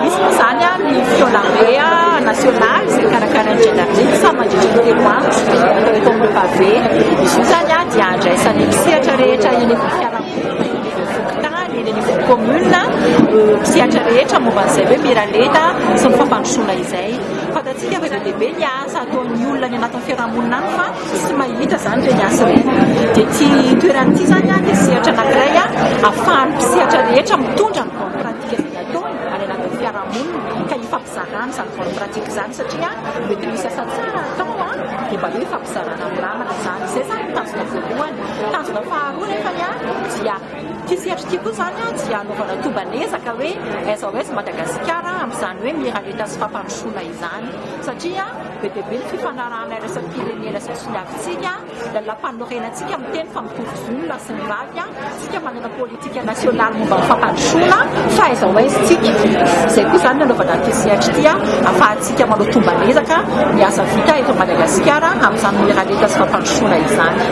Misy moa izany ny fiolambé national izay karakarain'ny Gendarmerie samy mandritra ny telo andro atao eto amin'ny Pavé. Izy io izany dia andraisana eny sehatra rehetra eny amin'ny fiarahamonina fokontany, eny anivon'ny commune, ireo sehatra rehetra momba an'izay hoe miralenta sy ny fampandrosoana izay. Fantatsika fa be dia be ny asa ataon'ny olona any anatin'ny fiarahamonina any fa. Tsy mahita izany ireny asa ireny. Dia ity toerana ity izany dia sehatra anankiray ahafahan'ny mpisehatra rehetra mitondra ny bonne pratique izay ataony any anatin'ny fiarahamonina ka ifampizarana izany bonne pratique izany satria mety misy asa tsara atao dia mba hoe ifampizarana amin'ny namana izany. Izay izany no tanjona voalohany. Tanjona faharoa nefany dia ity sehatra ity koa izany dia hanaovana tomban'ezaka hoe SOS Madagasikara amin'izany hoe miralenta sy fampandrosoana izany satria. Be dia be ny fifanarahana iraisam-pirenena sy toniavintsika, lalàmpanorenantsika miteny fa mitovy zo ny lahy sy ny vavy, isika manana politika nasionaly momba ny fampandrosoana, fa aiza ho aiza isika? Izay koa izany ny hanaovana ity sehatra ity ahafahantsika manao tomban'ezaka ny asa vita eto Madagasikara amin'izany miralenta sy fampandrosoana izany.